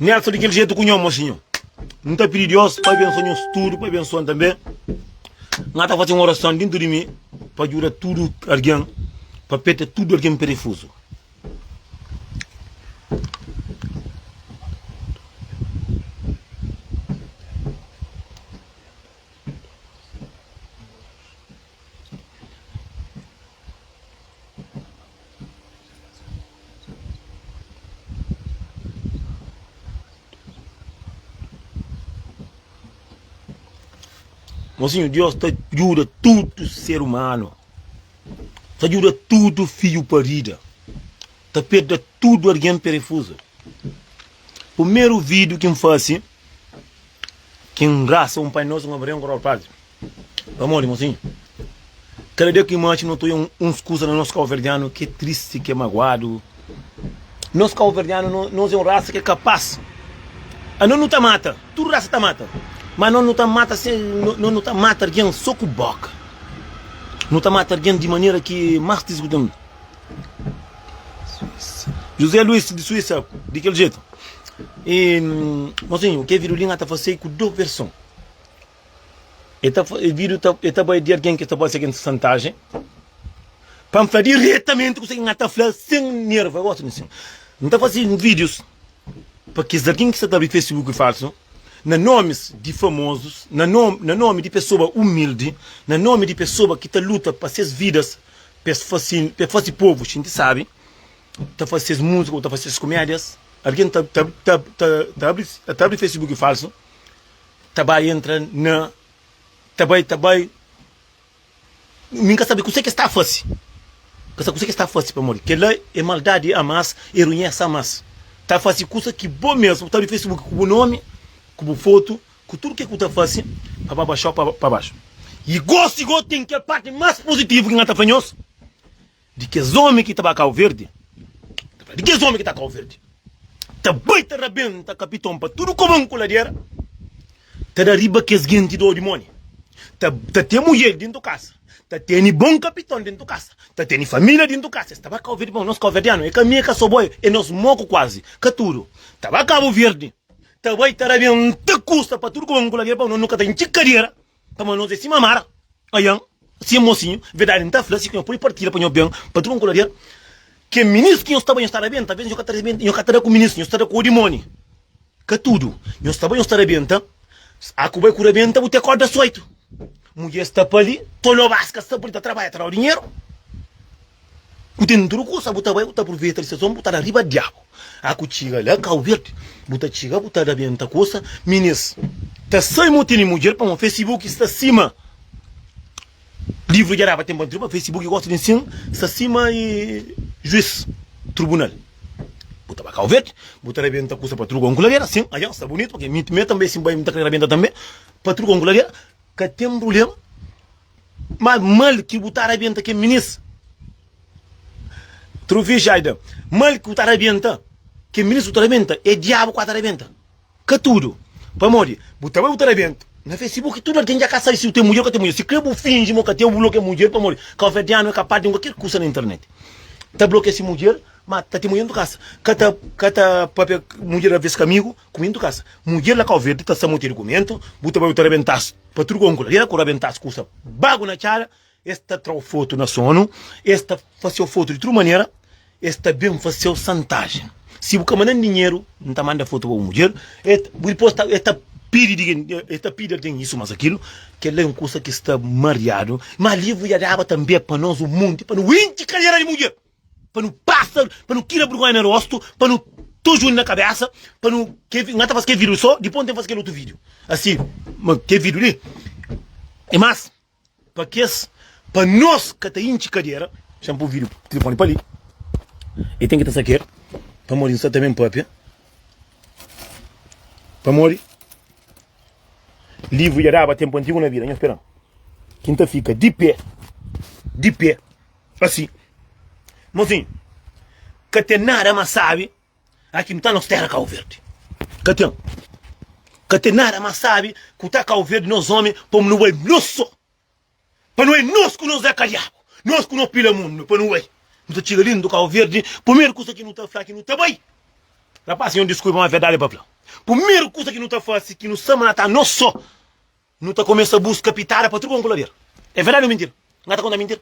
Nessa di kel jeito ku nho moxi nho N ta pidi Deus pa abençoa nho studu pa abençoa-m tanbê N ta fase un orason dintu di mi pa djuda tudu algen pa peta tudu algen perefuzu Mosinhu, Deus ta djuda tudu ser umanu, ta djuda tudu fidju parida, ta perda tudu algen perefuzu. Primeru vidu ki N fase, ki N rasa un Pai Nosu, un Ave Maria, un Koroal Patri. Pamodi, mosinhu, kada dia ki nu atxa nu ta oja uns kuza na nos kauverdianu ki é tristi, ki é maguadu. Nos kauverdianu, nos é un rasa ki é kapas. Anos nu ta mata, tudu rasa ta mata, má anos nu ta mata sen, nos nu ta mata algen sô ku bóka. Nu ta mata algen di manera ki é más tristi ku ten. José Luis, di Suísa, di kel jetu. I, mosinhu, ke Vidolin a ta fase ku dôs verson. e ta bai di algen ki ta bai segenti santajen pa N fla diretamenti kuzê ki N ta fla sen nerva. Gosi di sin. N ta fase vídius pa kes algen ki sta ta abri Facebook falsu na nomis di famozus, na nomi di pesoba umildi, na nomi di pesoba ki ta luta pa ses vidas pa es fase, pa es fase povu xinti sabi, ta fase ses múzika ô ta fase ses kumédias. Algen ta abri Facebook falsu. Ta bai entra na Ta bai ta bai Min ka sabe kuse ke sta fase Ka sabe kuse ke sta fase pamodi kela e maldadi a mas e ruñes a mas Ta fase kusa ki bo mesmu ta abi facebook ku bu nomi ku bu fotu ku tudu ke ku ta fase pa ba baxau pa baxu i gosi go ten kel parti mas positivu ki nhan ta fla nhos Di kes omi ki ta ba Kau Verdi, ta fla, di kes omi ki ta Kau Verdi, ta bai ta rabenta kapiton pa tudu koban ku ladera, ta da riba kes genti do di mone, ta ta ten mudjer dintu kasa, ta teni bon kapiton dintu kasa, ta teni familia dintu kasa, es ta ba Kau Verdi bon, nos kauverdianu e ka mi e ka Soboy, e nos moku kuazi, ka tudu, ta ba Kabu Verdi, ta bai ta rabenta kusa pa tudu koban ku ladera, pa no nu ka ta intxi kadera. Ka ma nos é sima Mara, Ayan, Sim mosinhu, verdadi N ta fla si ku nho pode partilha pa nho ben pa tudu Angola-Rial Ke minis ki nho sta ba nho sta rabenta Ves nho ka ta rabenta nho ka ta da ku minis nho sta da ku odimoni Ka tudu nho sta ba nho sta rabenta A ku bai ku rabenta bu ta kod das oitu Mudjer sta pa li tolobas ka sta pa li ta trabalha ta dau dinheru. Bu ten tudu kusa bu ta bai bu ta purveta distrason bu ta da riba diabu a ku txiga la kau verdi bu ta txiga bu ta rabenta kusa minis ta sai mo tene mudjer pamo fesibuki sta sima livru djaraba ten bantriba fesibuki gosta di nsin sta sima juis trubunal bu ta ba kau verdi bu ta rabenta kusa pa tudu kon ku ladera sin ajan sta bunitu pake mi mi tanbe si mi bai mi ta kre rabenta tanbe pa tudu kon ku ladera ka ten prublema. Ma mal ki bu ta rabenta kel minis. Truvi Jayden, Mal ki bu ta rabenta kel minis bu ta rabenta é diabu ku a ta rabenta. Ka tudu. Pamodi bu ta bai bu ta rabenta na Facebook tudu algen dja ka sabe si bu ten mudjer ô ka ten mudjer. Si kre bu finji ma bu ka ten, bu blokia mudjer pamodi kabuverdianu é kapaz di ten kualker kusa na internet. Ta blokia si mudjer ma ta ten mudjer na bu kasa. Ka ta ka ta papia mudjer alves ka amigu. Kumentu kasa mudjer la kauverdi ta sa moti argumentu bu ta bai u ta rabentas pa tudu konkula dela ku rabentas kusa bagu na cara es ta trau fotu na sonu es ta faseu fotu di tudu manera es ta ben faseu santaji si bu ka mandan dinheru n ta manda fotu pa bu mudjer e bu dipos ta e ta pidi di gen e ta pidi algen isu mas akilu kela e un kusa ki sta mariadu ma livu ya daba tambe pa nos un munti pa no inci karera di mudjer. Pa nu pasa pa nu tira burgonha na rostu pa nu tuz uni na kabesa pa nu ke na ta faz ke video so dipos nu ten faz kel otu video asi ma ke video li e mas pa kes pa nos ka ta intxi kadera se n po video telefoni pa li e ten ki ta sa kel pamodi n sa ta ben papia pamodi livru dja daba tenpu antigu na vida nha speran ki n ta fika di pe di pe. Asi, mozinhu, ka ten nada más sábi a ki nu ta nos téra Kabu Verdi. Ka ten. Ka ten nada más sábi ku ta Kabu Verdi, nos ómi, pamo nu bai nos sô. Pa nu é nos ku nos akadiabu, nos ku nos pila mundu pa nu bai. Nu ta txiga lindu Kabu Verdi, pumeru kusa ki nu ta fla ki nu ta bai. Rapás, senhor, diskulpa, má verdadi pa fla, pumeru kusa ki nu ta fase ki nu sta mata nos sô. Nu ta kumesa buska pitada pa tudu kon ku lader. É verdadi ô mintira? N ka ta konta mintira.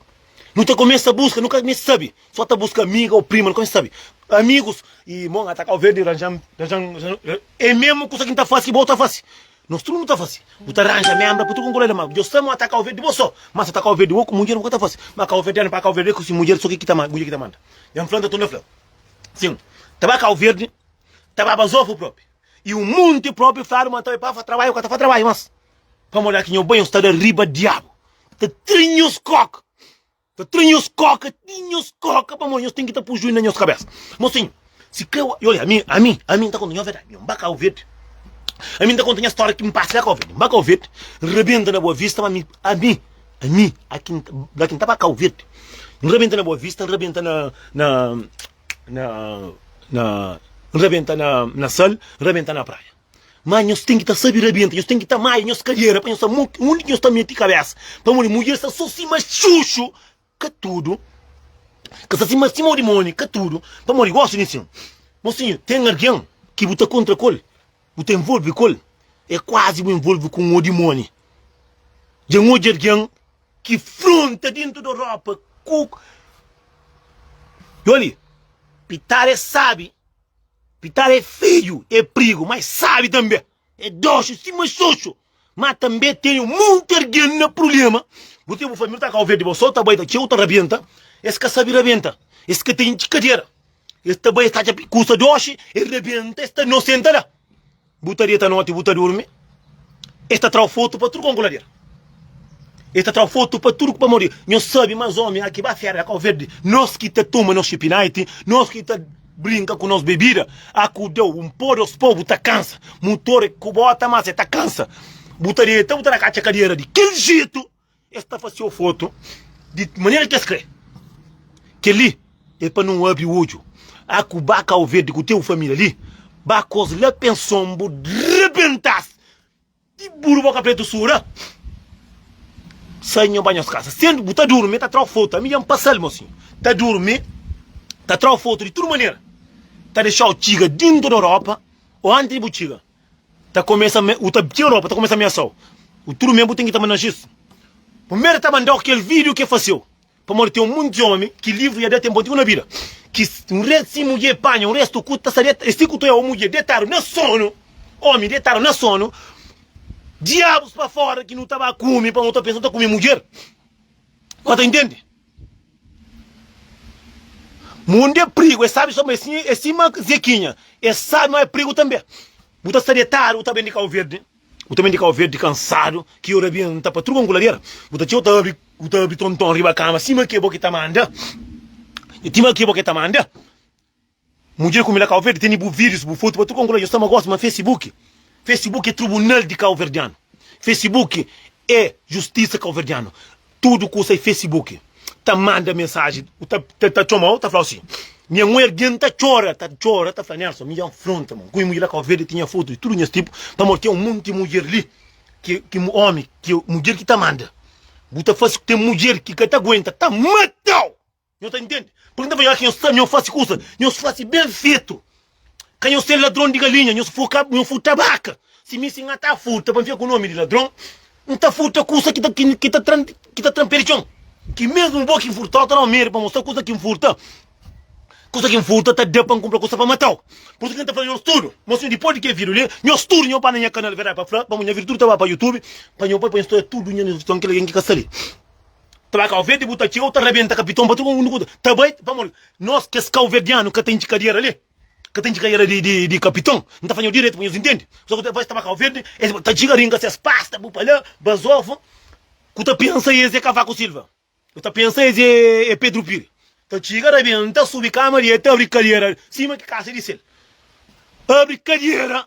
Nu ta kumesa buska, nu ka meste sabe, sô ta buska amiga ô prima, nu ka meste sabe. Amigus i mon ata kau verdi ranjan, ranjan, ranjan. É mésmu kusa ki N ta fase ki bo ta fase. Nos tudu nu ta fase. Bu ta ranja ménbra pa tudu kon ku lader. Má Deus ta ama ata kau verdi di bo sô. Má si ata kau verdi di oku mudjer bu ka ta fase. Má kauverdianu pa kauverdianu é ku si mudjer sô ki ki ta manda, mudjer ki ta manda. Jan fla-l, N ta torna fla-l. Sin, ta ba kau verdi, ta ba bazofu propi. E un monti probi fladu ma ta fa trabadju, ka ta fa trabadju mas. Pamodi la ki nho bai, nho sta da riba diabu ta trin nhos koka, ta trin nhos koka, trin nhos koka pamodi nhos ten ki ta pui juiu na nhos kabesa. Mosinhu, si ka e ola ami, ami, ami nta konta nho verdadi, nho nba kau verdi, ami nta konta nha storia ki npasa la kau verdi, nba kau verdi, nrabenta na boa vista ma ami, ami, ami aki, la ki nta ba kau verdi, nrabenta na boa vista, nrabenta na, na. na, na, N rabenta na, na sal, N rabenta na praia. Mas nhos tem que tá sabe rabenta, nhos tem que tá maia, nhos cadeira, para nhos tá onde que nhos tá meti cabeça. Para mulher, mulher está só cima chuchu, que é tudo. Que está cima cima de mone, que é tudo. Para mulher, gosto de sim. Mocinho, tem alguém que você contra col, você envolve col, é quase você envolve com o demônio. Já um de alguém ki fronta dintu do ropa ku Djoli pitada é sabi pitada é feju é prigu ma é sabi tanbe é doxu sima xoxo ma tanbe teni monti argen na prulema bu ten bu família ta kau verde bo so ta bai ta txeu ta rabenta es ka sabi rabenta es ka ten txikadera es ta bai es ta atxa kusa doxi é rabenta es ta nosenta la. Bu ta deta noti bu ta durmi es ta trau fotu pa tudu kon ku lader es ta trau fotu pa tudu pamodi nhos sabi ma es omi aki ba fera da kau verdi nos ki ta tuma nos xipinaiti nos ki ta brinka ku nos bebida aku deu un po dos po bu ta kansa mutor ku bota mas e ta kansa bu ta deta bu ta na katxa kadera di kel jetu. Es ta fase ofoto di manera ki es kre. Kel-li é pa nu abri odju. A ku ba Kau Verdi ku teu família li, ba kos la penson bu rebenta-s di buru boka pretu sura. Sai nho ba nhos kasa. Sen bu ta durmi, ta tra ofoto. Ami dja N pasa-l mo sin. Ta durmi, ta tra ofoto di tudu manera. Ta dexa-u txiga dintu di Europa o antis di bu txiga. ta começa a me, u ta tira ropa ta começa a ameaçau u tudo mesmo bu tem que ta mandau xis primeiro ta mandau aquel video que faceu pamodi tem um monte de homem que livro ya da tem pontico na vida que um rei sim mulher panha um resto cu ta saber esse cu ta mulher deitado na sono homem deitado na sono diabos pa fora que nu ta ba come pa nu ta pensa nu ta come mulher nu ta intende. Mundu é prigu, es sabi so ma é sima Zekinha, es sabi ma é prigu tanbe. Bu ta sta detadu, bu ta ben di Kau Verdi, bu ta ben di Kau Verdi kansadu, ki ora bin nta patruga un kuladera, bu ta txeu ta abri, bu ta abri tonton riba kama sima ke bo ki ta manda, sima ke bo ki ta manda. Mudjer ku mi la Kauverdi tene bu vidus bu fotu pa tudu Angolanu, nhos ta ama gosi ma Facebook Facebook é tribunal di Kauverdianu Facebook é justisa Kauverdianu tudu ku sai Facebook ta manda mensaji u ta ta txomau ta flau si nha mu ergen ta txora ta txora ta fla Nelson mi ya nfronta mon ku i mudjer la Kauverdi ti nha fotu di tudu nhas tipu pamodi ten un monti mudjer li ki ki mu omi ki mudjer ki ta manda bu ta fasi ku ten mudjer ki ka ta guenta ta matau. Nhos ta intende? Purkê nhos ta fadja kel ki nhos fase kusa, nhos fase ben fetu. Ka nhos ser ladron di galinha, nhos foka, nhos furta baka. Si mi si N ta furta pa N fika ku nomi di ladron, N ta furta kusa ki ta, ki ta tra, ki ta tra-m pé di txon. Ki mésmu bo ki N furta-u, N ta da-u medi pa N mostra-u kusa ki N furta. Kusa ki N furta ta da pa N kunpra kusa pa mata-u. Pur isu ki N ta fla nhos tudu, ma sinhor, dipôs di kel vídiu li, nhos tudu nhos ba na nha kanal Verdadi Pa Fla, pamodi nha vídiu tudu ta ba pa YouTube, pa nhos poi pa nhos ta oja tudu nha, nhos ta fla kel algen ki ka sta li. ta ba kauverde bu ta txeu ta rabenta kapiton pa tudu mundu ta bai pamodi nos kes kauverdianu ka ten ki kadiera li ka ten ki kadiera di kapiton n ta faña-u diretu pa nhos intendi so ku es ta ba kauverde es ta txiga ringa ses pasta bu pa la bazofa ku ta pensa es é kavaku silva bu ta pensa es é pedru piri ta txiga rabenta subi kama li el ta abri kadiera sima ki kasa di sel abri kadiera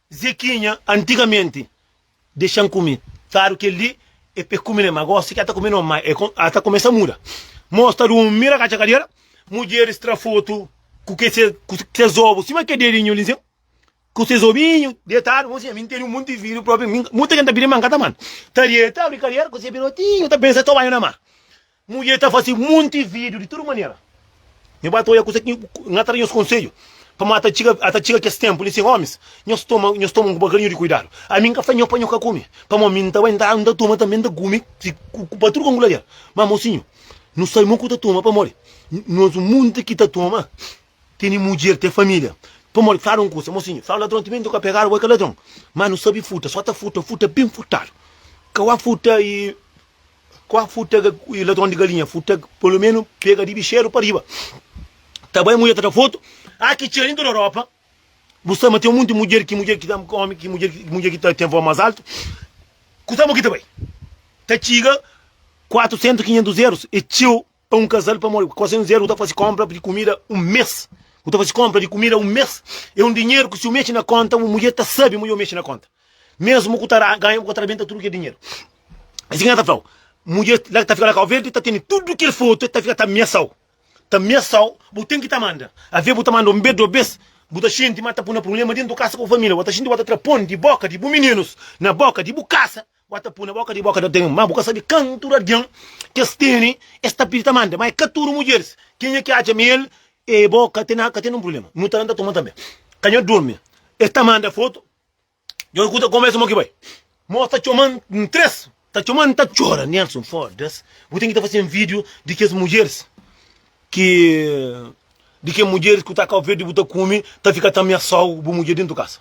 Zekinha antigamenti dexan kume kadu kel-li e pe kume ne ma gosi si ki a ta kume norma e a ta kumesa muda mos ta durmi na katxa kadera mudjeris tra fotu ku kes zobu sima ke dedinhu li sen ku se zobinhu detadu mon sinha mi nteni un monti vidu propi mi muta ke n ta pidi ma n ka ta manda ta rieta abri kadera ku se pirotinhu ta pensa ta obanhu na mar Mudjer ta fase munti vidiu di tudu manera nha ba ta oia kusa ki nha ta da nhos konsedju pamodi ata txiga ata txiga kes tenpu li sen omis nhos toma nhos toma un bokadinhu di kuidadu ami nka fla nho pa nho ka kumi pamodi ami nta bai nta nta toma tanbe nta kumi si kuba tudu kongulajer ma mosinhu nu sabe mo ku ta toma pamodi nhos munti ki ta toma tene mudjer ten familia pamodi fladu un kusa mosinhu fla ladron timenti nka pegadu bo i ka ladron ma nu sabe futa so ta futa futa bin futadu ka wa futa i. Kua futag ladron di galinha futag pelo menu pega di bixeru pa riba ta bai mudjer ta ta foto ah ki txeu em tudo Europa bu sa ma tem um monte mudjer ki mudjer ki ta homem ki mudjer ki mudjer ki ta tem voz mas alto kusa mo ki ta bai ta txiga 400 500 euros e txeu pa un kazal pamodi ku kuase un zéru bu ta faze konpra di kumida un mês bu ta faze konpra di kumida un mês é un dinheru ku si bu meste na konta bu mudjer ta sabe ma dja bu meste na konta mésmu ku ta ganha bu ka ta rabenta tudu kel dinheru é si ki el ta fla-u mudjer la ki ta fika na kau verdi ta tene tudu kel fotu el ta fika ta amesa-u ta amesa-u bu ten ki ta manda alvês bu ta manda un bes dôs bes bu ta xinti ma ta pui-n na prubléma déntu di kasa ku bu família bu ta xinti ma bu ta tra pon di bóka di bu mininus na bóka di bu kasa Bu a ta pui na boka di boka di oten, ma bu ka sabi kantu di algen ki es tene. Es ta pidi ta manda, ma e ka tudu mudjeris. Kenha ki atxa ma el e bo ka ten ka ten nin prubléma. Nu ta anda toma tanbê. Ka nha durmi. Es ta manda fotu. Dja nu kuta kómu es mo ki bai. Mo es ta txoma-m N tres ta txoma-m N ta txora Nelson, foda-s bu ten ki ta fase-m vídiu di kes mudjeris ki di kes mudjeris ku ta Kau Verdi bu ta kume ta fika ta amiasau bu mudjer dentu kasa.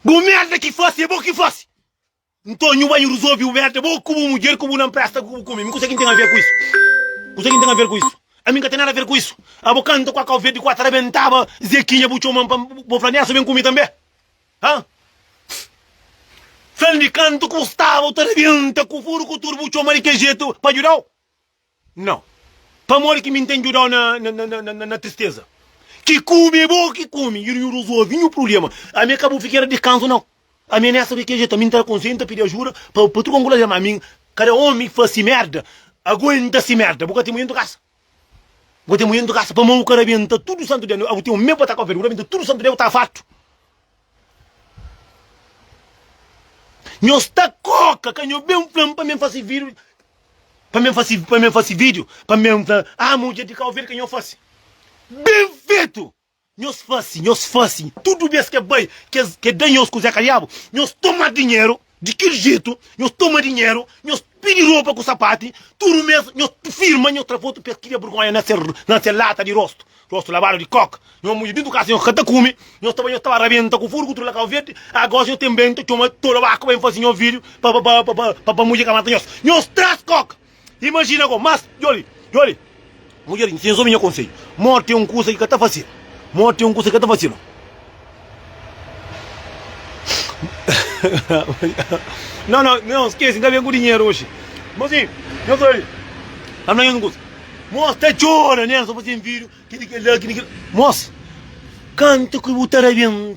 Bu merda ki fasi é bo ki fasi. Nton nhu bai resolve bu merda bo ku bu mudjer ku bu na npresta ku bu kume. Mi kusa ki ntém aver ku isu? Kusa ki ntém aver ku isu? Ami nka ten nada aver ku isu. Abo kanta ku a kau verdi ku a ta rabentaba Zekinha bu txoman pa bo fla nessa ben ku mi tanbe? Ha? Fla-m di kantu ku bu staba u ta rabenta ku furu ku tudu bu txoma di ke jetu pa djudau? Nau. Pamodi ki mi n'ten djudau na na tristeza? Ki kume é bo ki kume i nu resolvi nhu prubléma. Ami ka bu figera di kanzu nau. Ami nesta di kel jetu, ami n'ta da konselhu, n'ta pidi ajuda pa pa tuka ngula dema. Ami kada omi ki fas si merda aguenta si merda. Bu ka ten mudjer n'tu kasa? Bu ka ten mudjer n'tu kasa? Pamau kada aguenta tudu santu dia. Au ten un mes pa ta ka oferta, bu ta aguenta tudu santu dia bu ta fartu. Nho sta koka ka nho ben flam pa men fasi video pa men fasi pa men fasi video pa men fla ah mudjer di cabo verde ka nho fasi ben fetu nhos fasi nhos fasi tudu bes ke bai ke da nhos kuze kaliabu nhos toma dinheru Di kel jetu, nhos toma dinheru, nhos pidi ropa ku sapati, tudu mês nhos firma nhos trafotu pa es kria burgonha na se na se lata di rostu, rostu labadu di koka. Nhos mudja dintu kasa, nhos ka ta kume, nhos ta ba, nhos ta ba rabenta ku furgu tudu la kau verdi. Agosi nhos ten ben ta txoma tolobaku pa ben fasi nhos vidiu pa pa pa pa pa pa mudja ka mata nhos. Nhos traz koka. Imajina gó, mas djoli, djoli. Mudjer, Nhos obi nha konsedju. Morti é un kusa ki ka ta fasil. Morti é un kusa ki ka ta fasil. Nau, nau, nau, skesi, n ka ben ku dinheru oxi. Mas sim, nhos obi, N ta fla nhos un kusa. Mos ta djora, nel, so pa sen fidju, ki di kel-la, ki di kel-la. Mos, kantu ki bu ta rebenta.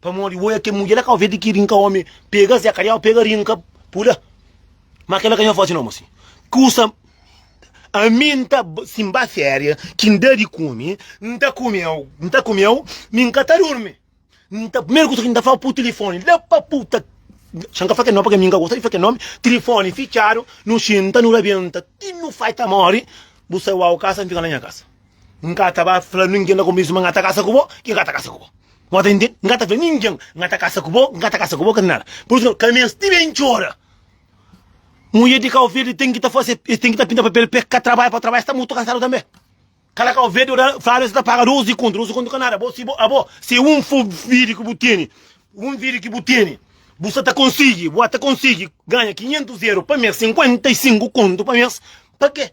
Pamodi bo é kel mudjer la ka oveja ki rinka omi pega zé ka djau pega rinka pula ma kel la ka nha fazi nomu asin kusa ami n ta sin ba feria ki n da di kumi n ta kumeu n ta kumeu mi n ka ta durmi n ta primeru kusa ki n ta fla pu tilifoni la pa pu ta xan ka fla kel nomi paske mi n ka gosta di fla kel nomi tilifoni ficadu nu xinta nu rabenta ti nu fai ta mori bu sai wau kasa n fika na nha kasa. N ka ta ba fla ningen na komésu ma N ka ta kasa ku bo, ki N ka ta kasa ku bo. Bo ta intende? N ka ta fla ningen N ka ta kasa ku bo, N ka ta kasa ku bo, ka ta nada. Pur isu, ka meste ben txora. Mudjer di Kau Verdi ten ki ta fase, es ten ki ta pinta papel pa es ka trabadja, pa trabadja es ta mutu kansadu tanbe. Kala Kau Verdi ora fladu es ta paga dos di kontu, dos di kontu ka nada. Bo si bo, abo, si e un fo vidi ki bu tene, un vidi ki bu tene, bu sa ta konsigi, bu a ta konsigi ganha 500 eru pa mes, 55 kontu pa mes, pa ke?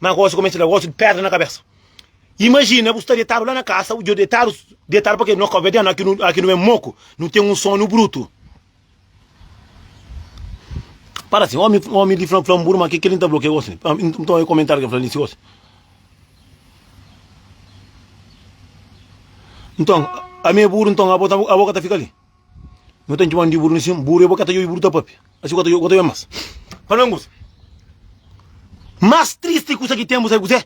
Má gósi kumesa ta da gósi di pédra na kabésa. Imajina bu sta detadu la na kasa, dja detadu, detadu pake no ka obedenu, aki nu, aki nu é moku, nu ten un sonu brutu. Para si, ómi, ómi li fla, fla-m buru, má ke kel-li N ta fla-u ke gósi li? Nton, e komentáriu ke fla li si gósi. Nton, ami é buru, nton abo ta, abo ka ta fika li? No ten ki manda di buru na sima, buru e bo ka ta yobi buru ta pape. Asi bo ka ta yobi obi mas. Pa mi un kusa mas tristi kusa ki ten bu sabe kuzé?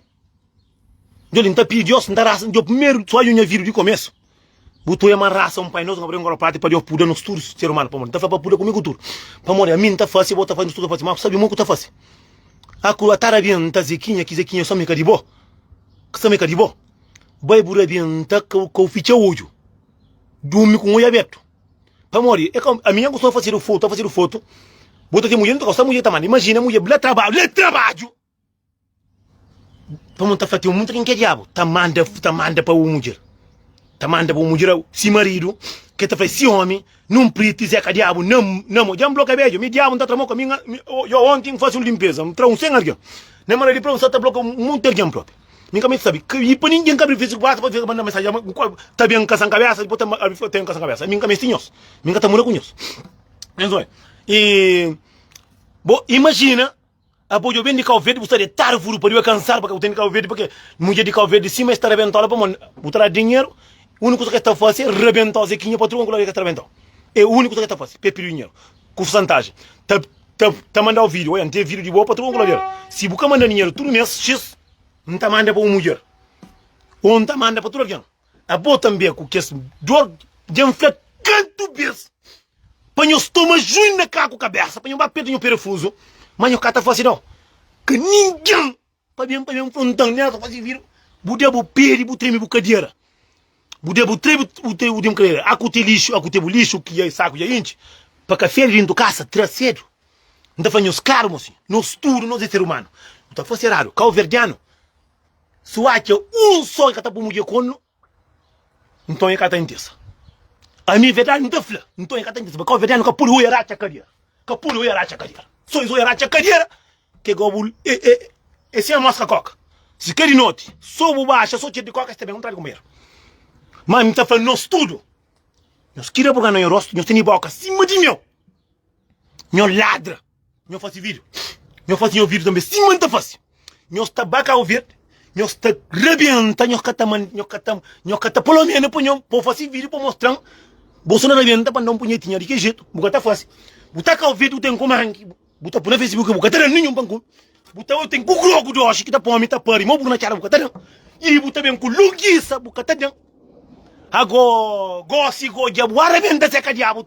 Djo li N ta pidi Dios, N ta rasa, djo primeru sonju nha vida di komesu bu ta obi ma rasa un Pai Nosu ka pode nkola prati pa Dios puda nos tudu ser umanu pamodi N ta fla pa puda ku mi ku tudu pamodi ami N ta fasi, bo ta fasi, nos tudu ta fasi ma bu sabe mon ku ta fasi? Aku ata rabia N ta Zekinha ki Zekinha sami ka di bo, sami ka di bo, bai bu rabia N ta ka, ka bu fitxa odju. Durmi ku un oi abertu. Pamodi e ka ami nha ku sta fasedu fotu, ta fasedu fotu. Bo ta ten mudjer, nu ta gosta mudjer ta manda. Imajina mudjer bla trabadju, le trabadju! Pamodi nu ta fla ten un ta ten ke diabu ta manda, ta manda pa un mudjer. Ta manda pa un mudjer, si maridu, ke ta fla si omi, nun priti zeka diabu na na mo. Dja n bloka bedju, mi diabu n ta tra mo ka mi, mi. Yo onti n fasi un limpeza, n tra un 100 algen. Na mala di prau, n sa ta bloka monti algen propi. Mi ka meste sabi. Ka i pa ningen ka abri Facebook basta pa manda mensagem ama nkol ta ben ka san kabesa depois ta abri fla ten ka san kabesa. Mi nka meste nhos. Mi nka ta muda ku nhos. Nhos oi. E bo imagina abo jo ben di Cabo Verde bu sta de tarvuru pa riba kansar pa ke bu ten di Cabo Verde pa ke mudjer di Cabo Verde si ma e sta rabentau la pa mon. Bu ta da dinheru uniku kusa ke e sta fasi e rabentau zekinha patrua nkula e ka ta rabentau. E uniku kusa ke e ta fasi pa e pidi dinheru. ku pursantájen ta ta ta mandau vídiu oi N ten vídiu di bo pa tudu un kulader si bu ka manda dinheru tudu mês xis N ta manda pa un mudjer ô N ta manda pa tudu algen abo tanbê ku kes dor dja N fla kantu bês pa nho stoma juin na ka ku kabésa pa nho ba perde nho perefuzu ma nho ka ta fase nau ka ningen Pa ben pa ben frontan nha ta fazi vira bu da bu pedi bu tremi bu kadera bu da bu tremi bu tremi bu kadera a ku te lixu a ku te bu lixu ki dja saku dja intxi pa ka fede dentu kasa tra sedu N ta fla nhos klaru mo si nos tudu nos é ser umanu bu ta fla si eradu kauverdianu su atxa un sol ka ta po mudjer konnu Nton e ka ta intesa. Ami verdadi N ta fla, nton e ka ta intesa pa kau verdadi nu ka pode oia ratxa kadera, ka pode oia ratxa kadera. So es oia ratxa kadera ke gau bu e sen amoska koka. Si ka di noti so bu baxa so txer di koka es ta ben un tra di konperu. Ma ami ta fla nos tudu, nos kira buga na nho rostu, nos tene boka sima di nho, nho ladra. Nho fasi vídio. Nho fasi nho vídio tanbê. Sima N ta fasi. Nho sta ba Cabo Verde. Nho sta rabienta. Nho ka ta man, nho ka ta, nho ka ta polomena pa nho, pa fasi vídio pa mostra-m. Bo so na rabienta pa N da un punhetinha di ke jetu. Bu ka ta fasi. Bu ta Cabo Verde, bu ten ku manki. Bu ta pui na Facebook, bu ka ta da ninhun pa N kume. Bu ta oi, ten ku grogu di oxi ki ta pome, ta pari. Mo bu na txada, bu ka ta dan. I bu ta ben ku lungisa, bu ka ta dan. Ago, gosi, goja, bu a rabienta seka diabu.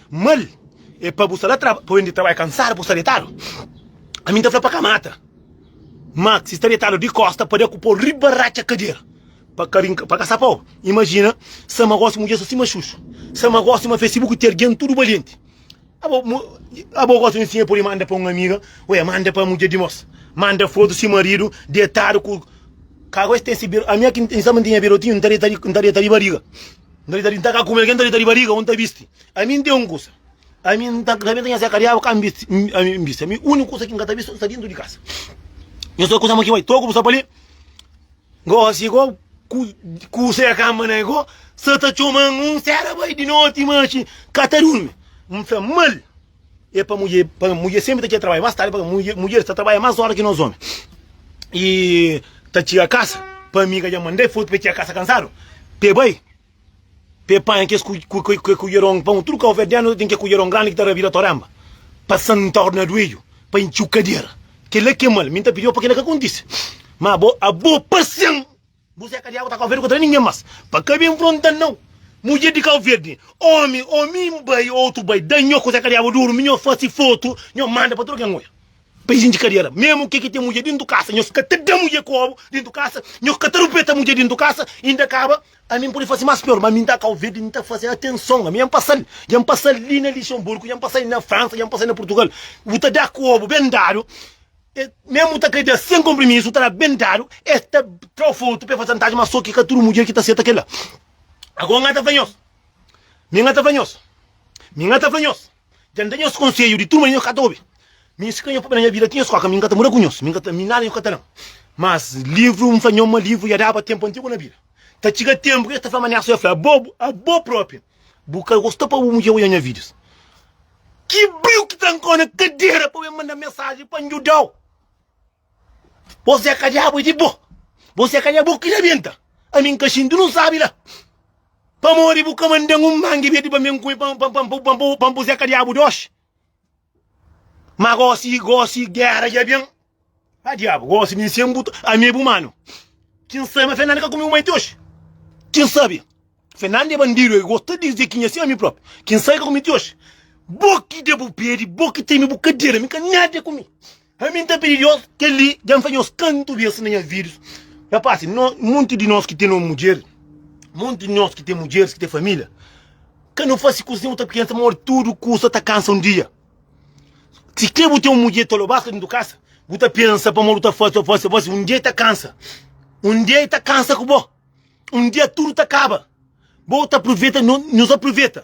Mal é pa bu sta la tra pa oendi trabalha kansadu pa bu sta detadu ami nta fla pa ka mata ma si sta detadu di kosta pade ku pau riba ratxa kadera pa ka rinka pa ka sa pau imajina sa ma gosi mudjer sta sima xuxu sa ma gosi ma fesi bu ku ter gen tudu balienti abo mu abo gosi un sinha pudi manda pa un amiga ué manda pa mudjer dimos manda fotu si maridu detadu ku ka gosi ten si bir ami aki nta mantenia birotinhu nta deta nta deta di bariga N ta deitadu, N ta ka kume, algen ta deita ribariga, un ta bisti. Ami N ten un kusa, ami N ta ta nha seka diaba ka N bisti, ami N bisti, ami uniku kusa ki N ka ta bisti sta dintu di kasa. Nhos ta kusama ki bai toku bu sta pali, gosi go ku ku seka ma na go sa ta coman un sera bai di noti, ma ki ka ta durmi, N fla mal. e pa mudje pa mudje senpri ta txia trabadja más tardi paka mudje mudjer ta trabadja más óra ki nos ómi i ta txia kasa pa mi ka dja mand'é fotu p'é txia kasa kansadu p'é bai p'é panha kes ku ku ku ke kudjeron pon tudu kau verdianu ta ten ke kudjeron grandi ki ta rabira toremba pa santa orna duedju pa intxiu kadera kela k'é mal mi n'ta pidi-u pa kela ka kontise ma abo abo pasian. Bu zé kadiago ta kauverdi kontra ningen mas pa ka bin fronta nau mudjer di kauverdi omi o mi n bai o otu bai da nho ku zé kadiago duru mi nho fasi fotu nho manda pa tudu ken oia pa izindi kadiera memu ke ki ten mudjer dintu kasa nho ka ta da mudjer kobu dintu kasa nho ka ta rupeta mudjer dintu kasa inda kaba ami n pudi fasi mas pior ma mi n ta kauverdi n ta fasi atenson ami ja n pasal ja n pasal li na lixenburgu ja n pasal li na fransa ja n pasal li na purtugal bu ta da kobu ben dadu Mesmo ta ka dja sem compromisso ta dá bem dado es ta trao foto pe faz chantagem mas só ki ka tudo mulher ki ta seta kel la agora nha ta fla nhos mi nha ta fla nhos mi nha ta fla nhos dja nda nhos conselho di tudo manera nhos ka ta obi mi inskri nha papel nha vida ti nhos koka mi nha ta muda ku nhos mi nha ta mi nada nhos ka ta dam mas livro nfla nhos ma livro ya daba tempo antigo na bida ta txiga tempo ki es ta fla ma nha so ya fla abo abo proprio Bu ka gosta pa bu mudjer oja nha videos? Ki brio ki trankau na kadera pa ben manda mensagem pa njudau? Bos é ka diabu é di bo. Bos é ka diabu ki rebenta. Ami nka xinti nu sabi la. Pamodi bu ka mandan un mangi beti pa ben kume pa pa pa pa pa bos é ka diabu doxi. Ma gosi, gosi, gera dja ben Ah diabu, gosi mi sen bu ami e bu manu Kin sabe ma Fernanda ka kume bu mai ti oji Kin sabe Fernanda e bandidu e gosi ta dize ki nha sen ami propi Kin sabe ka kume ti oji Bo ki da bu pedi, bo ki teme bu kadera Mi ka nada e kume Ami nta pidi Deus keli dja nfa nhos kantu bes na nha vidus nha pasi no monti di nos ki ten no mudjer monti di nos ki ten mudjeris ki ten familia ka no fasi kusa sen bu ta pensa ma ora tudu kusa ta kansa un dia si ke bu ten un mudjer ta lo bas ka ten tu kasa bu ta pensa pamodi bu ta fasi ta fasi ta fasi un dia e ta kansa un dia e ta kansa ku bo un dia tudu ta kaba bo ta pruveta no nhos ta pruveta.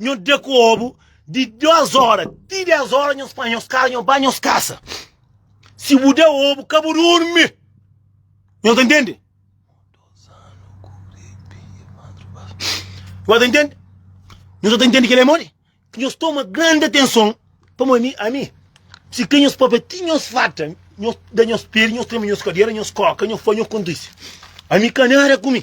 Nho da kobu di 2 ora ti 10 ora nho spa nhos kasa nho ba nhos kasa si bu da obu ka bu durmi nho ta ntende nho ta ntende nho sa ta ntende kele modi ki nhos toma grande atenson pamo ami ami si ke nhos papia ti nhos farta nhos da nhos pedi nhos trema nhos kadera nhos koka nhos fa nhos kontisi ami ka nada ku mi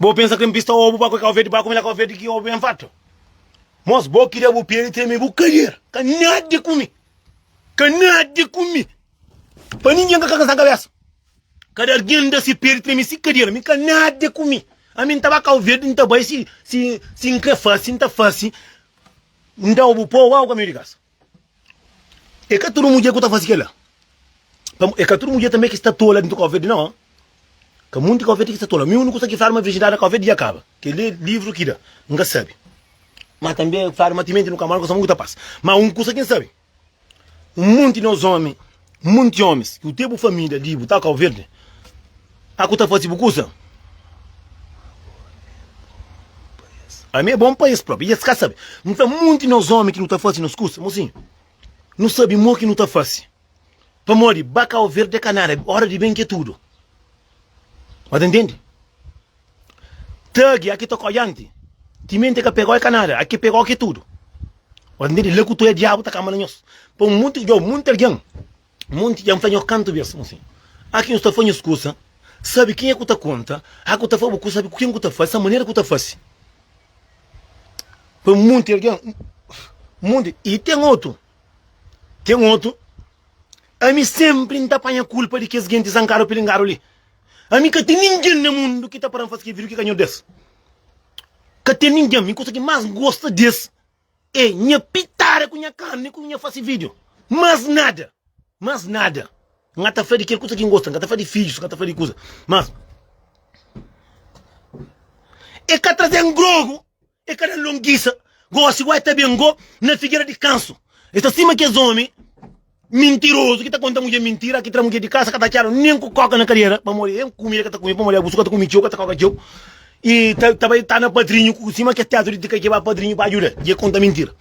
Bo pensa krem pista obu pa ku e kau verdi pa kume la kau verdi ki obu en fatu mos bo ki da bu pia di treme bu kadera ka nada di kumi ka nada di kumi pa ningen ka kasa kabesa kada argen da si pia di treme si kadera mi ka nada di kumi ami nta ba kau verdi nta bai si si si nkre fasi nta fasi nda obu po obu ka miu di kasa. E ka tudu mudjer ku ta fase kela. Pamo, e ka tudu mudjer tanbe ki sta tola dintu Covid nau, ha. Ka munti Covid ki sta tola. Mi unu kusa ki fala ma virjindadi na Covid dja kaba. Keli e livru ki da. N ka sabi. Ma tanbe fala ma timenti nu ka mora, nu ka sabi un ki ta pasa. Ma un kusa ki N sabi, un munti di nos omi. Monti omis. Ku te bu família li bu ta kau verdi a ku ta fasi bu kusa? Ami é bon pa es própi i es ka sabe. Nta monti nos omi ki nu ta fasi nos kusa? Mosinhu, nu sabe mo ki nu ta fasi. Pamodi ba kau verdi é ka nada, óra di ben ki é tudu. Ba ta ntende? Tagi, aki ta kodianti, timenti ka pegó e ka nada, aki pegó ki tudu. Ora ntende, la ku tu e diabu ta kamba na nhos. Pa monti djo, monti algen, monti dja N fla nhos kantu bes kuma si, aki nhos ta fla nhos kusa, sabi kenha ku ta konta, aki ku ta fla bu kusa, sabi ku ken ku ta fla, sa manera ku ta fasi. Pa monti algen, monti, i ten otu, ten otu, ami sempri N ta panha kulpa di kes genti zankadu, pilingaduli, Ami ka ten ningen na mundu ki ta para-m faze kel vídiu ki ka nhos des. Ka ten ningen. Mi kusa ki más N gosta des é nha pitada ku nha karni ku nha fase vídiu. Más nada. Más nada. N ka ta fla di kel kusa ki N gosta. N ka ta fla di fidjus. N ka ta fla di kusa. Má, e ka traze-m grogu. E ka da longisa, gosi gó e ta ben gó na figera di kansu. E sta sima kes omi mintirozu ki ta konta mudje mintira, ki tra mudje di kasa, ka ta atxadu nen ku koka na kadera, pamodi e kumida ka ta kume, pamodi abusu ka ta kume txeu, ka ta koka txeu, i ta ta bai ta na padrinhu ku sima kes teatru di tika ki e ba padrinhu pa adjuda i e konta mintira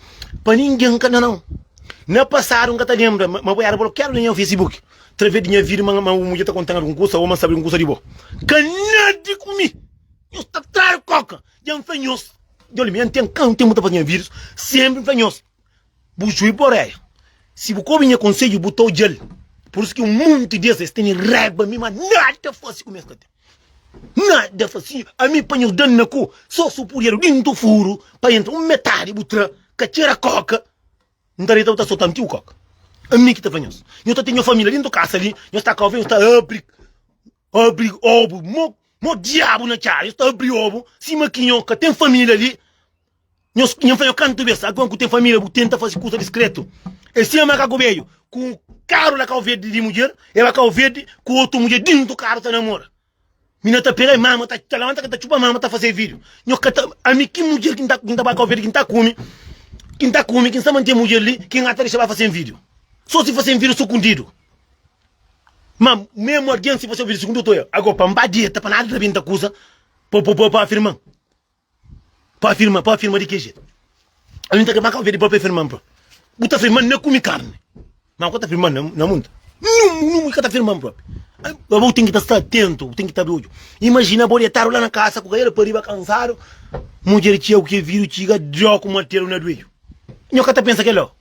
pa ningen ka na nau. Na pasadu N ka ta lenbra ma bo era blokiadu na nha Facebook traves di nha vida ma ma bu mudje ta konta-m algun kusa o ma N sabe algun kusa di bo. Ka nada di kume, nhos ta tradu koka. Dja n fla nhos, dja mi n ten ka n ten bu ta faze nha vidus, sénpri n fla nhos, bu jubi pa oréia, si bu ka obi nha konsedju bu ta odja-l, pur isu ki monti di es, es tene raiba mi, má nada fase ku mi es ka ten, nada fase, ami panha es da-m na ku, sô supurieru dintu furu pa entra, un metadi bu tra, ka txera kóka, n ta deita bu ta sota antiu kóka, ami ki ta fla nhos, nhos ta ten nha família dintu kasa li, nhos ta ka obi nhos ta abri. Abri obu mo mo diabu na txai nhos ta abri obu sima ki nho ka ten família li nhos nha fla nho kantu bes alguen ku ten família bu tenta fazi kusa diskretu e sima ma ka ku beju ku un karu la kau verdi di mudjer e ba kau verdi ku otu mudjer dintu karu ta namora mi na ta pega e mama ta lamanta ke ta txupa mama ta faze vidiu nho ka ta ami ki mudjer ki nta ki nta ba kau verdi ki nta kumi ki nta kumi ki nsa mante mudjer li ki nha ta dexa ba faze-m vidiu so si faze-m vidiu so kundidu. Ma memu algen si fase ovidu sigundu otor ya, ago pa N ba deta pa nada ta bin ta kusa pa pa afirman, pa afirma, pa afirma di ke jetu? Ami N ta kre ba ka ovedu pa pa afirman pa bu ta afirman na kumi karni, ma bu ka ta afirman na na mun ta nungu nungu i ka ta afirman propi. Abo bu ten ki ta sta atentu, bu ten ki ta abi odju. Imajina bo detadu la na kasa ku kadeira pa riba kansadu, mudjer txeu ke vidu txiga djoku materu na duedju. Nho ka ta pensa kela.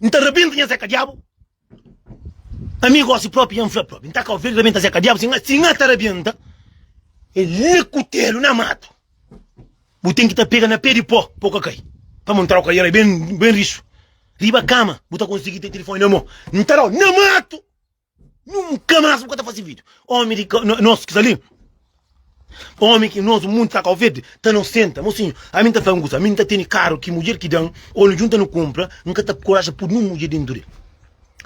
N ta rabenta nha Zé Kadiabu Ami gósi própi nha N fla própi N ta ka ovel rabenta Zé Kadiabu Si N ata rabenta el na kutelu na matu Bu ten ki ta pega na pé di pó pa bu ka kai Pa mon troka i era ben rixu Riba kama bu ta konsigi ten tilifoni na mô N ta dau na matu Nunka más bu ka ta fase vídio Ómi di ka, nos ki sta li Ómi ki nos mundu sta Kau Verdi ta nos senta Mosinhu ami N ta fla un kusa ami N ta tene karu ki mudjer ki da-m Ô nu djunta nu kunpra N ka ta koraja pudi nen un mudjer dentu di el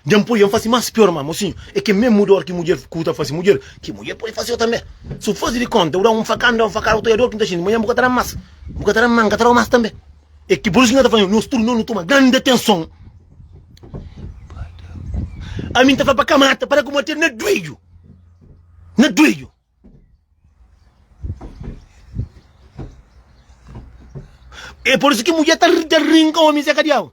Dja N poi-l dja N fase más piór má Mosinhu é kel mésmu dór ki mudjer ku ta fase mudjer Ki mudjer pode fase-u tanbe Si bu faze di kónta bu da-m un fakada N da-u un fakada bu ta oiador ki N ta xinti manhan bu ka ta da-m más bu ka ta da-m má N ka ta da-u más tanbe. É ki pur isu ki nha ta fla-nu, nos tudu nos nu toma grandi atenson. Ami N ta fla pa ka mata, para ku mate-l na duidju, na duidju. É pur isu ki mudjer ta rinka omi Zé ka diabu.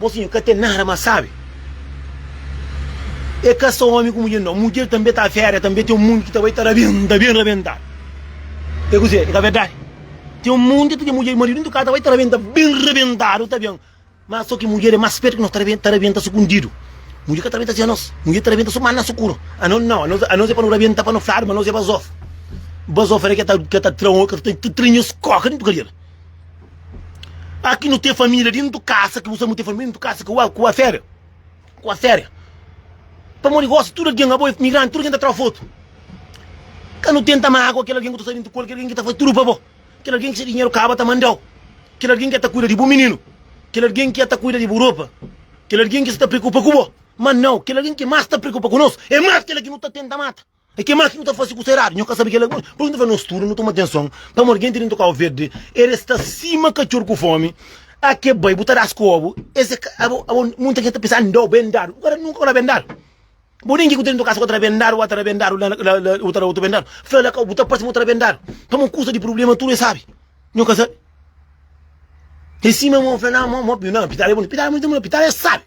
Mosinhu ka ten nada ma sabe e ka so omi ku mudjer nau mudjer tanbe ta fera e tanbe ten un mundu ki ta bai ta rabenta ben rabentadu e kuzê e ka verdadi ten un mundu ki ten mudjer maridu intu ka ta bai ta rabenta ben rabentadu ta ben ma so ki mudjer e mas spetu ki nos ta rabenta sukundidu mudjer ka ta rabenta si anos mudjer ta rabenta so ma na sukuru anos nau anos e pa no rabenta pa no fladu ma anos e bazofa bazofa era ke ta ke ta tra ke ta tra nhos koka dentu kadiera. Aki nu ten família dentu kasa ki bu sabe nu ten família dentu kasa ku ku afera ku afera pamodi gosi tudu algen abo é migranti tudu algen ta tra fotu ka nu tenta mágua kel algen ku ta sta dentu kol kel algen ki ta faze tudu pa bo kel algen ki se dinheru kaba ta mandau kel algen ki ya ta kuida di bu mininu kel algen ki ya ta kuida di bu ropa kel algen ki sta preokupa ku bo mas nau kel algen ki más ta preokupa ku nos é más kel ki nu ta tenta mata. E ke más ki nu ta fase ku sta eradu? Nho ka sabe kel-la. Pur ki nu ta fla nos tudu nu toma atenson? Pamodi gen ti dentu Kau Verdi, el e sta sima katxor ku fomi. A ke bai, bu ta da-s kobu. Es e ka. Abo, abo, munta gen ta pensa, N da-u bendadu. Bu ka da nunka, bu na bendadu. Bo den ki ku ta dentu kasa ku ta da bendadu, bu a ta da bendadu la, la, la, bu ta da otu bendadu. Fla la, Kau, bu ta parse ma bu ta da bendadu. Pamodi kusa di prublema tudu e sabe. Nho ka sabe. E sima mo fla, Nan, mo, mo, pi, nan, pitala e boni. Pitala e boni ta mula, pitala e sabe.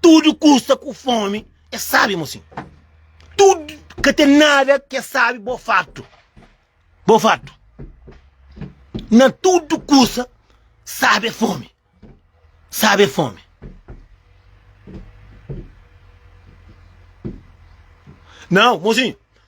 Tudu ku sta ku fomi e sabi mo sin. Tudu ka ten nada ke sabi bo fartu. Bo fartu. Na tudu kusa sabe fomi. Sabe fomi. Nau, mozinho,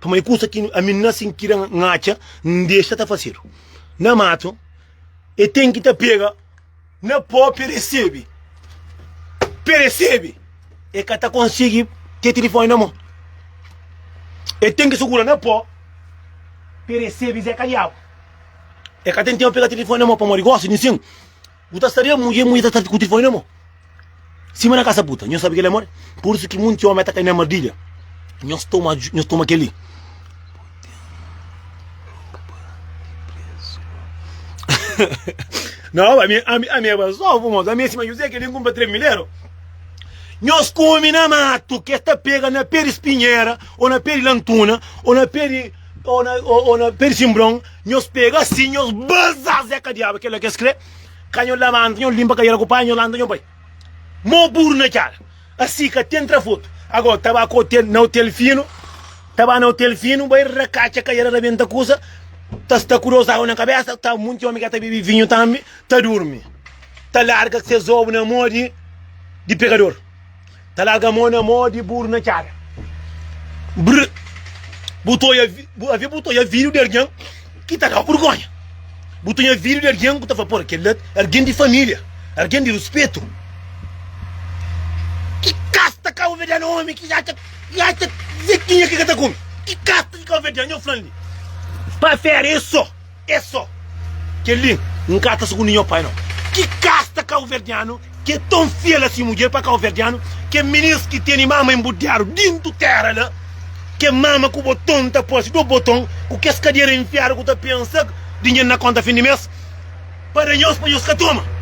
Pamodi é kusa ki ami na sin kira N atxa N dexa ta fasedu na matu E ten ki ta pega na pó peresebe Peresebe E ka ta konsigi ten tilifoni na mô E ten ki sugura na pó peresebe Zé ka diabu E ka ten tenpu pega tilifoni na mô Pamodi gosi di N sin Bu ta sta riba mu mudjer, mudjer ta sta ku tilifoni na mo sima na kasa puta. Nhos sabe kel amor? Pur isu ki monti omi ta kai na mardilha. Nhos toma, nhos toma kel li. Não, a minha, a minha, a minha pessoa, vamos, a minha cima José que ele compra 3 mil euros. Nós come na mato, que está pega na pé de espinheira, ou na pé de lantuna, ou na pé de, ou na, ou, ou na pé de simbrão, Nhos pega asin nhos baza zé ka diaba kela kes kre ka nhos lamanta nhos limpa kadera ku pai nhos lanta nhos bai mo buru na cara asi ka ten tra foto agora ta ba ka hotel na hotel fino ta ba na hotel fino bai rakaca kadera rabenta kusa ta sta ku dos agu na kabesa ta munti homi ka ta bibi vinho tambi ta durmi ta larga ses obu na mo di di pegador. Ta larga mô na mô di buru na txada Brr Bu ta oia bu avê bu ta oia vídiu di argen ki ta da-u burgonha Bu ta oia vídiu di argen ku ta fla por kel-la argen di família argen di ruspetu Ki kasta kauverdianu ómi ki atxa ki atxa zetinha ki ka ta kume Ki kasta di kauverdianu nhô fla-l li Pa fera é sô. É só. Kel-li N ka ta sukundi nho pai nau. Ki kasta kauverdianu ki é ton fiel asin mudjer pa kauverdianu ki é minis ki teni mama enbudiadu dintu tera la ke mama ku boton ta parsi do boton ku kes kadera enfiadu ku ta pensa dinher na konta fin di mes pa da nhos pa nhos ka toma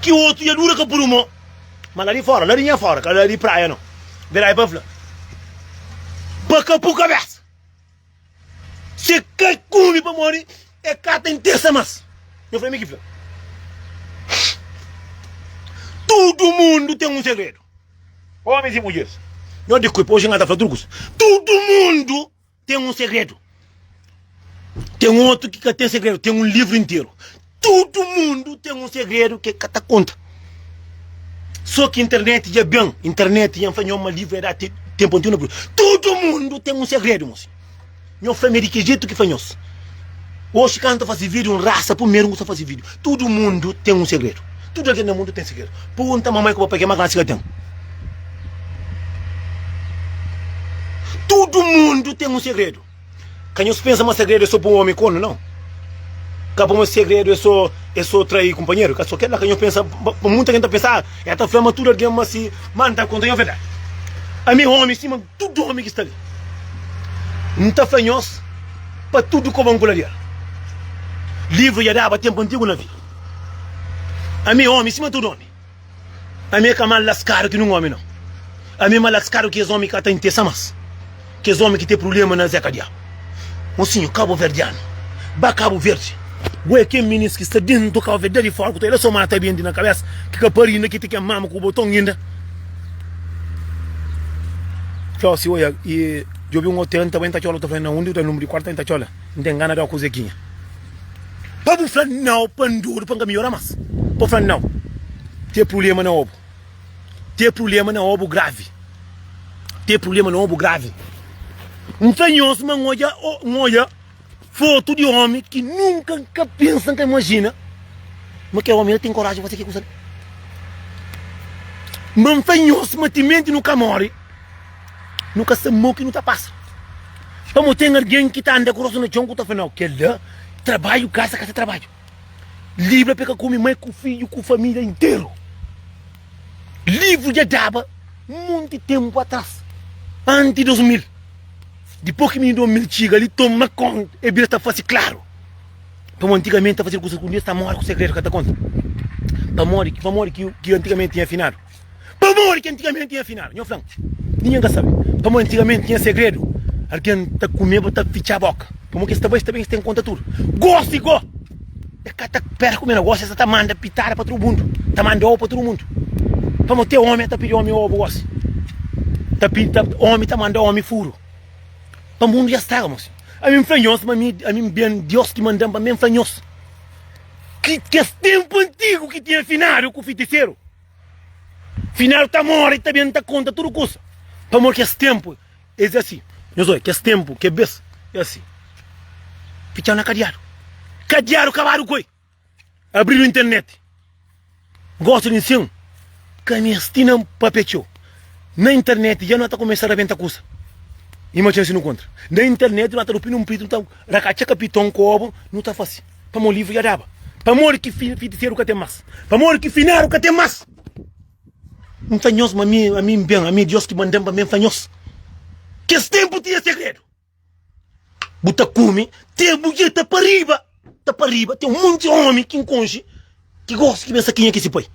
Ki otu ya dura ka puru mo Ma la di fora, la di nha fora Ka la di praia no Bera e pa fla Pa ka pu kabesa Se ka kume pamodi e ka ta intersa mas Nho fla mi ki fla Tudu mundu ten un segredu Omis y mudjeris Nho di kuipa oji N ka ta fla tudu kusa Tudu mundu. Ten un segredu. Ten otu ki ka ten segredu, ten un livru interu. Tudu mundu ten un segredu ki ka ta konta. Só ki internet dja ben, internet dja fla nho ma livru é da te, tempu antigu na Bru. Tudu mundu ten un segredu, mosi. Nho fla-me di ki jetu ki fla nhos. Oxi ka N ta fase vídio, N rasa primeru N ta fase vídio Tudu mundu ten un segredu Tudu algen na mundu ten segredu Pergunta mamai ku papai ki é más grandi si ka ten Tudu mundu ten un segredu Ka nhos pensa ma segredu é sô pa un ómi kónu, nau Ka pa ma segredu é sô é sô traí kunpanheru Ka sô kel-la ka nhos pensa Ma munta algen ta pensa El ta fla ma tudu algen ma si Má N ta konta nhos verdadi Ami é ómi sima tudu ómi ki sta li N ta fla nhos. Pa tudu koba n kularia. Livru ya daba tempu antigu na vi. Ami omi sima tudu omi. Ami e ka mal laskadu ki nun omi nau. Ami e ma laskadu ki es omi ka ta intesa mas. Ki es omi ki te prulema na zeka dia. Mosinhu kabuverdianu, ba Kabu Verdi. Bo e ken minis ki sta dentu Kabu Verdi dadi fora ku ta ela so mata bindi na kabesa ki ka pari inda ki ti ken mama ku boton inda. Txau si oia i. Djobe un otel n ta bai n ta txola u ta fla nau undi u ta nunbru di kuartu pa n ta txola n ten gana di oku zeginha pa bu fla nau pa n dodu pa n ka miora mas pa u fla nau te prulema na obu te prulema na obu gravi te prulema na obu gravi n fla nhos ma n odja o n odja. Foto di omi ki nunka n ka pensa, n ka imajina ma kel omi la ten koraji di fase kel kusa li. Ma n fla nhos ma timenti nu ka móre, nu ka sta mau ki nu ta pasa. Pamodi ten algen ki ta anda ku rostu na txon ku ta fla, Nau, kel-la trabadju kasa ka ta trabadju. Libra pa el ka kume mai ku fidju ku família interu. Livru dja daba monti tenpu atras, anti 2000. Dipos ki mini 2000 txiga li, toma konta, e bira ta fase klaru. Pamodi antigamenti ta fase kusas ku Deus ta mora ku segredu ka ta konta. Pamodi? Pamodi ki antigamenti tinha finadu? Pamodi ki antigamenti tinha finadu? Nho fla-m. Ningen ka sabe. Pamodi antigamenti tinha segredu. Algen ta kumeba, ta fitxa boka. Pamodi ki es ta bai, es ta ben, es ta inkontra tudu. Gosi go! É ka ta pera kume negosi, é sa ta manda pitada pa tudu mundu, ta manda obu pa tudu mundu. Pamo te omi é ta pidi omi obu gosi. Ta pidi, ta, omi ta manda omi furu. Pa mundu ya straga, mosi. A mi nfla nhos, ma mi, a mi ben Dios ki mandam pa mi, nfla nhos. Ki kes tempu antigu ki tinha finadu ku fitiseru. Finadu ta mori, ta ben ta konta tudu kusa. Pamo kes tempu. Es é assim, nhos oi kes tempo ke bes é assim fitxau na kadiadu, kadiadu kabadu ku oi abridu internet gosta di nsin ka mes ti na papia txeu na internet dja no ta kumesa rabenta kusa i ma txeu si no kontra na internet no ta rupi no mpritu no ta rakatxa kapiton ku obu no ta fasi pamo livru dja daba pamodi ki fitiseru ka ten mas pamodi ki finaru ka ten mas. N ta nhos, ma ami, ami N ben, ami é Deus ki manda-m pa mi, N ta nhos. Kes ténpu tinha segredu. Bu ta kume te bu dja ta pa riba, ta pa riba. Ten un monti ómi ki N konxe ki gosi ki ben sa kenha ki é se pai.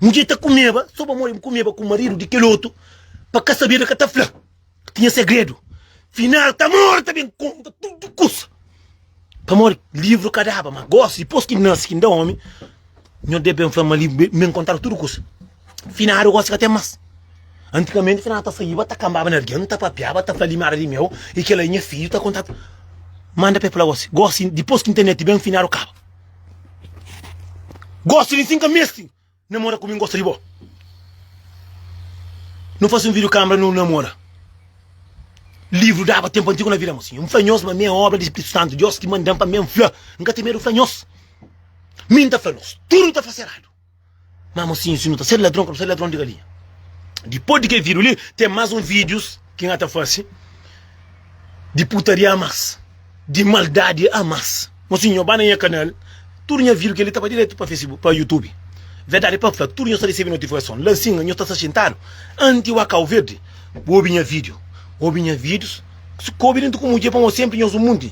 Mudjer ta kumeba, sô pamodi N kumeba ku maridu di kel otu, pa ka sabeba, ka ta fla. Tinha segredu. Final ta mor ta ben konta tudu kusa. Pamodi livru ka daba, ma gosi dipos ki nasi ki N da omi, Nho Deus ben fla ma livru ben kontadu tudu kusa. Finadu gosi ka ten mas. Antigamenti finadu ta saiba, ta kanbaba na algin, ta papiaba, ta fla limada di meu i kila i nha fidju ta konta. Manda pa e fla gosi, gosi dipos ki nternet ben finadu kaba. Gosi di sin ka mesti. Namora ku mi n'gosta di bo Nu fase un video camera nu namora Livro daba tempo antigo na vida mo si N'fla nhos ma mi é obra di Espiritu Santo Dios ki mandan pa mi N'fla n'ka ten medo fla nhos Mi n'ta fla nos tudo ta fase errado Ma mosinho si nu ta ser ladron ka nu ser ladron di galinha Dipos di kel video li ten mas un videos. Ki N ta fase di putaria a mas, di maldadi a mas. Mas si nho ba na nha kanal, tudu nha vidu keli ta ba diretu pa Facebook, pa YouTube. Verdadi pa fla, tudu nho sta risibi notifikason la singa nho sta sta xintadu anti wa kau verdi. Bu obi nha vidiu, obi nha vidius, kobi dentu ku mudje pamodi senpri nho su munti.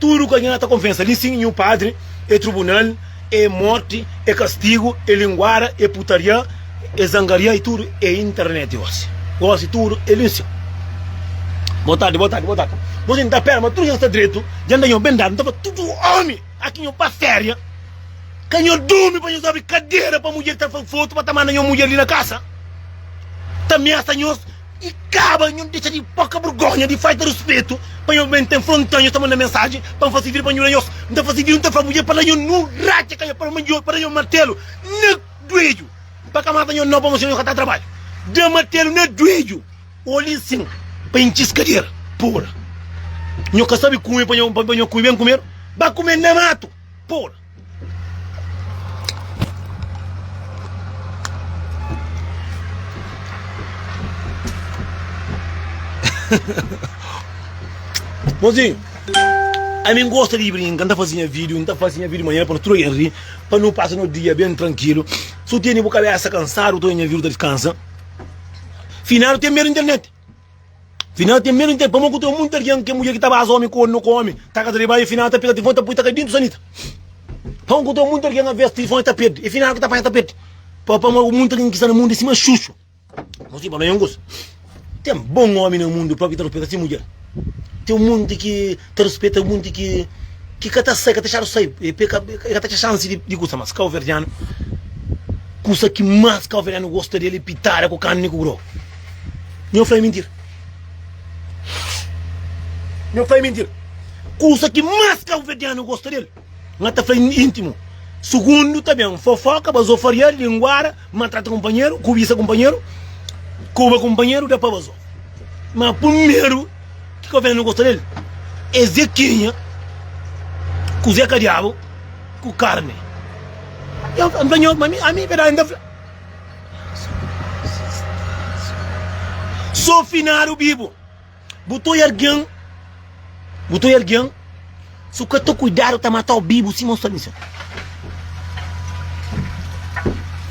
Tudu ka nha ta konfesa li sin nhu padri e trubunal e morti e kastigu e linguada e putaria e zangaria e tudu e internet gosi gosi tudu e li sin Boa tardi boa tardi boa tardi Gosi nhu ta pera ma tudu nha sta dretu dja nda nho ben dadu nhu ta fla tudu omi aki nho pa feria ka nho durmi pa nho sa obi kadera pa mudjer ta fla fotu pa ta manda nho mudjer li na kasa ta miasa nhos E kaba nhu dexa di poka burgonha di falta ruspetu pa nhu ben ten fronta nhu ta manda mensaji pa fazi vir pa nhu la nhos nta fazi vir nhu ta fla mudjer pa la nhu nu ratxa ka nhu pa manjo pa da nhu martelu na duedju pa ka mata nhu no pa mostra nhu ka ta trabalha da martelu na duedju oli sin pa intxi es kadera pura nhu ka sabi kumi pa nhu pa nhu kumi ben kumedu ba kumedu na matu pura. Mozinho, ami N gosta di brinka, N ta fazi nha vídiu, N ta fazi nha vídiu manera pa nu tudu algen ri, pa nu pasa no dia ben trankilu. Si bu tene bu kabésa kansadu, bu ta oja nha vídiu ta diskansa. Finadu ten medu di internet. Final ten menu nte pamo ku tro munta rian ke mulher ki ta baza omi kornu ku omi ta kaza riba e final ta pega telefon ta pui ta kai dintu sanita pamo ku tro munta rian aves telefon ta perdi e final ki ta panha ta perdi pa pamo ku munta rian ki sta na mundu e sima xuxu no si pamo e un kusa ten bon omi na mundu propi ta respeta si mulher ten munti ki Ta rispeta munti ki ki ka ta sai, ka ta txadu sai, e pe ka e ka ta txa xansi di di gusta mas. Kauverdianu, kusa ki mas kauverdianu gosta di el e pitada ku karni ku grogu. Nho fla e mintira? Nho fla e mintira? Kusa ki mas kauverdianu gosta di el. Nga ta fla intimu sugundu ta ben fofoka bazo farial linguara maltrata kunpanheru kubisa kunpanheru kuba kunpanheru da pa bazo ma primeru ki ka ben gosta del e zekinha ku zeka diabu ku karne ya n fla nhos ma mi ami verdadi n ta fla so finadu bibu Bu ta oi algen, bu ta oi algen, si bu ka ta kuidadu ta mata-u bibu sima un salmista.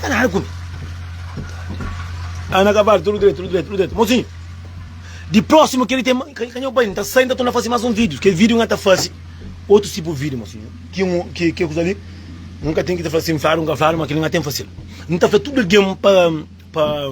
Ka nada ku mi. Ana Kaval, tudu dretu, tudu dretu, tudu dretu. Mozinhu, di prósimu keri ten, ka ka nho bai, n ta sai, n ta torna fase más un vídiu. Kel vídiu nha ta fase otus tipu vídiu, mozinhu. Ki un, ki ki kuza li, un ka ten ki ta fla sin fla, un ka fla, ma kel-li nha ten fase-l. N ta fla tudu algen pa, pa.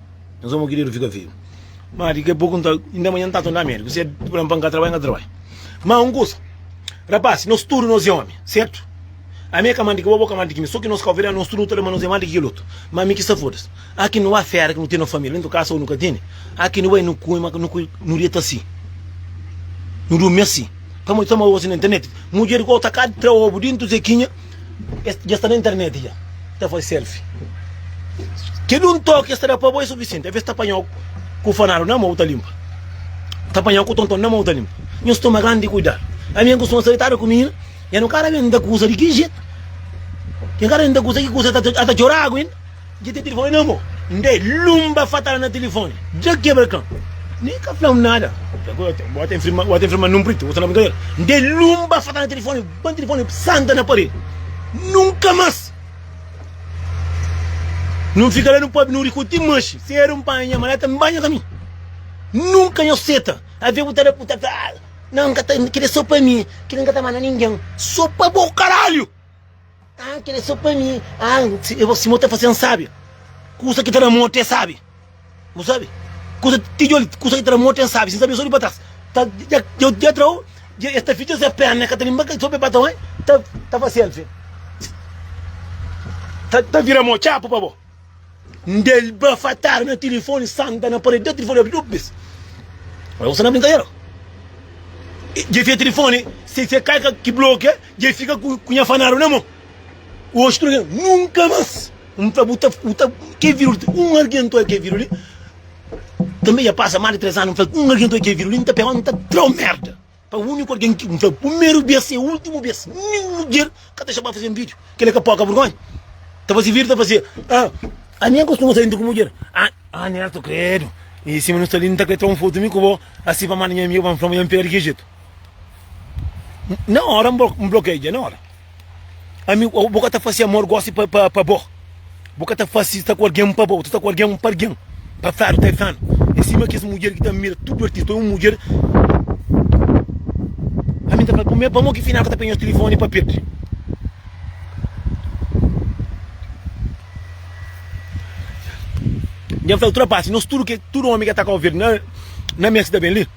Nhos amo ki di nu fika vivu ma di ki a poku nta inda manha nta tunda medu kusé di pula npa ka trabai nka trabai ma un kusa rapasi nos tudu nos e omi sertu ami e ka ma di ki bo bo ka ma di ki mi so ki nos ka overia nos tudu nu ta da ma nos e ma di ki kel otu ma mi ki sta fodas aki nu ba fera ki nu ten nos família ntu kasa o nu ka tene aki nu bai nu kume ma nu kume nu deta si nu durmi asi pamodi tamau gosi na internet mudjer ki o ta ka tra obu di ntu zekinha. Es dja sta na internet dja ta faze selfie Kel un toki es ta da pa bo é sufisienti Alves es ta panha-u ku fanadu na mô bu ta linpa Ta panha-u ku tonton na mô bu ta linpa Nhos toma grandi kuidadu Ami N kustuma sta ditadu ku mina Nha nu kada ben N ta kuza di ki jetu Nha kada ben N ta kuza ki kuza El ta txora agu inda. Dja ten tilifoni na mo. N da el lunba fatal na tilifoni. Dja kebra kan. Nen ka fla-m nada. Bo ta infirma, bo ta infirma num priti, bo ta na brinkadera. N da el lunba fatal na tilifoni, ban tilifoni santa na paredi. Nunka mas N fika la nu pobi nu riku ti manxi. Sedu N panha nha maleta N banha kaminhu. Nunka nha seta avia bu ta da, bu ta fla, Nan, N ka ta, kel li é sô pa mi. Kel li N ka ta ba na ningen. Sô pa bo, karalhu! Ah, kel é só pa mi. Ah, si, eh, si mo ta fazê-m sábi. Kusa ki ta na mo até sábi. Mo sábi? Kusa, tijoli, kusa ki ta na mo até sábi. Sin sabê só di pa trás. Ta, dja, dja, dja tra-u, dja, es ta fitxa se pérna, ka ta linba, só pe bata un, ta, ta fá selfie. Ta, ta vira mo txapu pa bo. N da el bafatadas na tilifoni, santa na paredi, da tilifoni obi duas bes. Ora gosi na brinkadera. Dje fia tilifoni, se se kai ki blokia, dje fika ku nha fanadu na mon. Oxi tudu ken, nunka mas! N fla bu ta, bu ta, ke viru li, un algen ta oi ke viru li, tanbe dja pasa mas di tres anu, n fla un algen ta oi ke viru li, n ta pega, n ta tra-u merda. Pa uniku algen ki N fla primeru bes e ultimu bes nin mudjer ka ta xaba faze un video kila ka poka vergonha ta faze video ta faze ah ami akostuma sa inda ku mudjer ah Neto kredo e sima nu sta li N ta kre tra un foto mi ku bo asi pa manda nha amigu pa N fla ma nha N pega di ki jetu na ora N blokeia dja na ora. Ami bo ka ta fase amor gosi pa pa pa bo. Bo ka ta fase sta ku algen pa bo, ta sta ku algen pa algen. Pa Fado Caifano. É sima kes mudjer ki ta mira tudu artista. Pamodi un mudjer. Ami ta fala, pamodi pamo ki final ka ta penha nhos tilifoni pa perde. Dja fla utrapasi, nos tudu ke tudu omi ke ta Kau Verde na na mes ki ta ben li.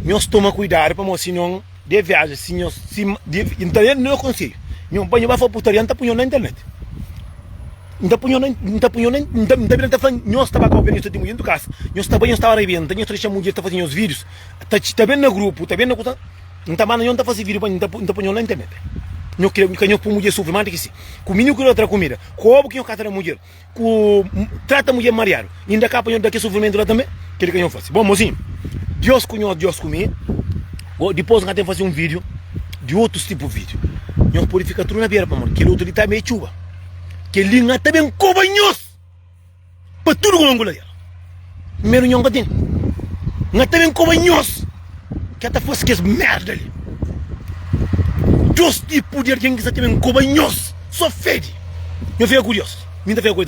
Nhos toma kuidadu pamodi si nhon de viaja si nhos si di nta da nhos konsedju nhon pa nhos ba fla putaria nta pu nhon na internet nta pu nhon nta pu nhon nta nta bira nta fla nhos ta ba ka oferta nhos ta tingu dentu kasa nhos ta bai nhos ta ba rebenta nhos ta dexa mudjer ta faze nhos vidius ta txi ta ben na grupu ta ben na kusa nta manda nhon ta faze vidiu pa nta pu nta pu nhon na internet nhos kre ka nhos pu mudjer sufri mas di ki si ku minigu ki nhos ta da kumida kobu ki nhos ka ta da mudjer. ku trata mudjer mariadu inda ka pa nho da ke sufrimentu la tanbe keli ka nho fasi bon mozinhu Dios ku nho Dios ku mi o dipos nha ten fasi un video di otus tipu video nho pudi fika tru na bera pamodi keli otu li ta mei txuba keli nha ta ben koba nhos pa tudu kuma ngula el. Primeru nhonga ten Nha ta ben koba nhos Ke ta fase kes merda li Dos tipu di argen ki sa ta ben koba nhos So fede Nha fika kurios Min ta fika kurios tanbe.